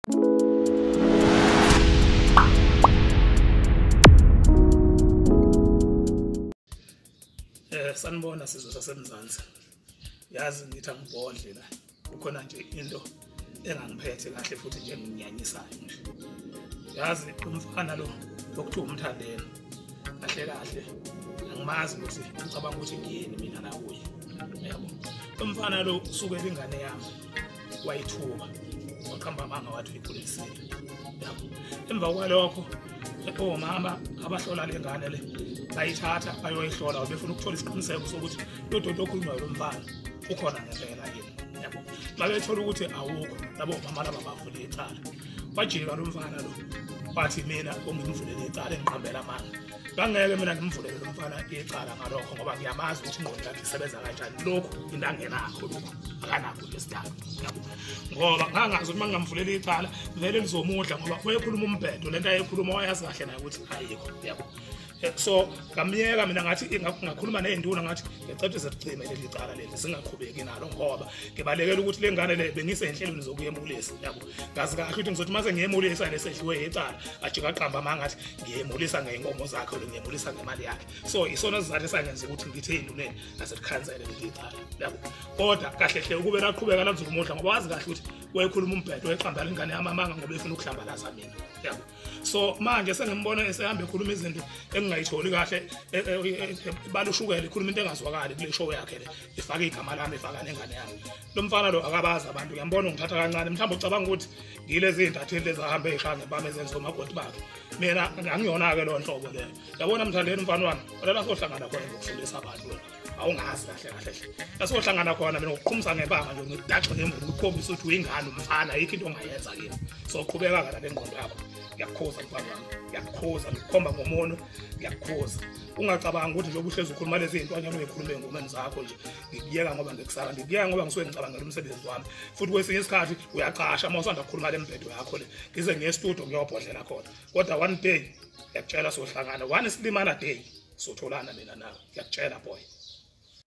Eh sanibona sizwe sasemzansi. Yazi ngithi angibhodle la. Kukhona nje into engangiphethe kahle futhi nje nginyanyisayo nje. Yazi umfana lo okuthiwa umthandela. Kahle kahle angimazi ukuthi ucabanga ukuthi ngiyini mina la kuye. Yabo. Umfana lo usuke ingane yami. wayithuka waqamba amanga wathi uyikhulekisile yabo emva kwalokho omama abahlola le ngane le bayithatha bayoyihlola befuna ukuthola isiqiniseko sokuthi lo doti okhulunywayo lo mfana ukhona ngempela yini yabo babethola ukuthi awukho labo mama laba bavule icala wajika lo mfana lo wathi mina ongimvulele icala engiqambela amanga bangeke mina ngimvulele lo mfana icala ngalokho ngoba ngiyamazi ukuthi ingqondo yakhe isebenza kanjani lokhu into angenakho lokhu akanakho lesidalo ngoba ngangazi ukuthi uma ngingamvuleli icala vele lizomudla ngoba wayekhuluma umbhedo le nto ayekhuluma wayazi kahle naye ukuthi ayikho yabo eh, so ngamyeka mina ngathi ngakhuluma ney'nduna ngathi ngicethe zicime leli cala leli zingaqhubeki nalo ngoba ngibalekela ukuthi le ngane le bengisenhlelweni zokuya emkulesi yabo ngazi kahle ukuthi ngizothi mase ngiyemulisa nesedliwe yecala ajike aqamba amanga athi ngiyemulisa ngey'nkomo zakhe lo ngiyemulisa ngemali yakhe so isona sizathu esangenza ukuthi ngithe enduneni naselikhansele leli icala yabo kodwa kahle hle ukube laqhubeka lanzulu umudla ngoba wazi kahle ukuthi wayekhuluma umbhedo eqamba lengane yami amanga ngoba efuna ukuhlambalaza mina yabo so manje sengimbona esehamba ekhuluma izinto engingayitholi kahle e, e, e, balushukela ikhuluma into engazwakali kule show yakhe le ifake igama lami ifaka nengane yami lo mfana lo akabazi abantu uyambona ungithatha kancane mhlawumbe ucabanga ukuthi ngilezi iy'ntatheli lezi ahambe ey'hlange bami ezenza omakoti bakhe mina angiyona-ke leyo nhlobo leyo yabona mthandeni umfana wami olala sohlangana khona ngokufundisa abantu wena awungazi kahle kahle hle lasohlangana khona mina ngokuqhumisa ngebanga nje ngidaxe ngemvubu ukukhombisa ukuthi uyingane umfana ayikho into ongayenza kimi soqhubeka-ke la le ngqondo yakho ngiyakukhuza mfana wami ngiyakukhuza ngikukhomba ngomono ngiyakukhuza ungacabangi ukuthi njengoba uhlezi ukhuluma lezi zinto anyana ungekhulume engomeni zakho nje ngikuyeka ngoba ngikusaba ngikuyeka ngoba ngisuke ngicabangela umsebenzi wami futhi kwesinye isikhathi uyacasha uma usanda kukhuluma le mbhedo yakho le ngize ngiye estudio ngiyobhodlela khona kodwa one day ngiyakutshela sohlangana one silimana day sotholana mina nawe ngiyakutshela boy